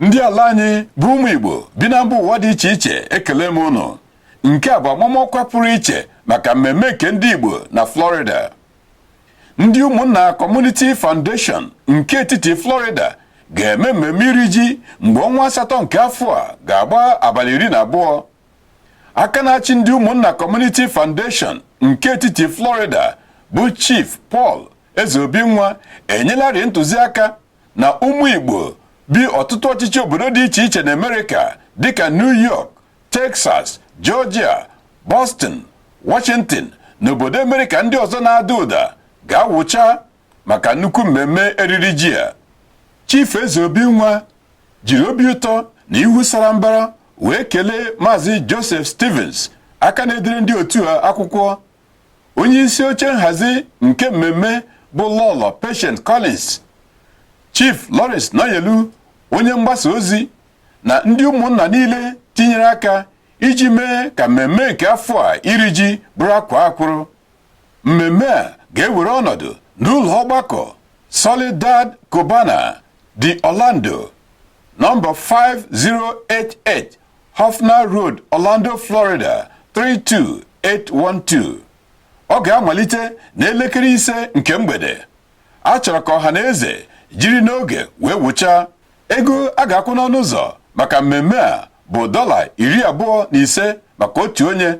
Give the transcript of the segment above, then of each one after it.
ndị ala anyị bụ ụmụ Igbo bi na mba ụwa dị iche iche ekele m ụnụ nke a bụ amamọkwa pụrụ iche maka mmemme nke ndị Igbo na Florida ndị ụmụnna Community Foundation nke etiti Florida ga-eme mmemme iri ji mgbe ọnwa asatọ nke afọ a ga-agba abalị iri na abụọ aka na-achị ndị ụmụnna Community Foundation nke etiti Florida bụ Chief Paul Ezeobinwa enyelarị ntụziaka na ụmụ Igbo bi ọtụtụ ọchịchị obodo dị iche iche na Amerịka dịka New York, Texas, Georgia, Boston, Washington na obodo Amerịka ndị ọzọ na-ada ụda ga-awụcha maka nnukwu mmemme eriri ji a. Chief Ezeobinwa jiri obi ụtọ na ihu sara mbara wee kelee Maazị Joseph Stevens aka na-edere ndị otu a akwụkwọ onye isi oche nhazi nke mmemme bụ lọlọ Patience Collins Chief Lawrence Nayelu onye mgbasa ozi na ndị ụmụnna niile tinyere aka iji mee ka mmemme nke afọ a iri ji bụrụ akwaa akwụrụ mmemme a ga-ewere ọnọdụ n'ụlọ ọgbakọ Solidad Cubana de Orlando nọmba 5088 Hoffner Road, Orlando, Florida 32812. Ọ ga-amalite n'elekere ise nke mgbede. A chọrọ ka ọha na eze jiri n'oge wee wụchaa. Ego a ga-akwụ n'ọnụ ụzọ maka mmemme a bụ dọla iri abụọ na ise maka otu onye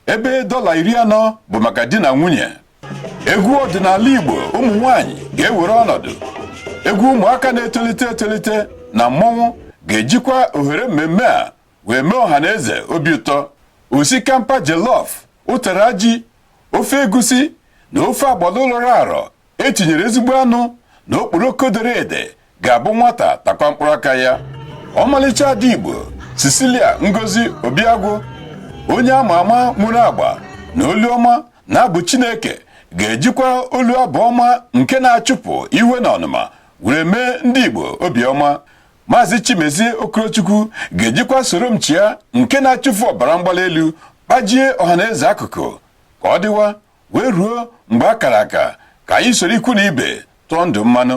ebe dọla iri anọ bụ maka di na nwunye egwu ọdịnala Igbo ụmụ nwanyị ga-ewere ọnọdụ egwu ụmụaka na-etolite etolite na mmọnwụ ga-ejikwa ohere mmemme a wee mee ọha na eze obi ụtọ osikapa jollof ụtara ji ofe egusi na ofe agbọlọ rọrọ arọ e tinyere ezigbo anụ na okporoko dere ede ga-abụ nwata takwa mkpụrụ aka ya ọmalịcha ada Igbo Cecilia Ngozi Obiagwụ onye ama ama nwere agba na olu ọma n'abụ Chineke ga-ejikwa olu abụ ọma nke na-achụpụ iwe na ọnụma were mee ndị Igbo obiọma Maazị Chimezie Okorochukwu ga-ejikwa soro m chịa nke na-achụfu ọbara mgbali elu kpajie ọhaneze akụkụ ka ọ dịwa wee ruo mgbe a kara aka ka anyị soro ikwu na ibe tụọ ndụ mmanụ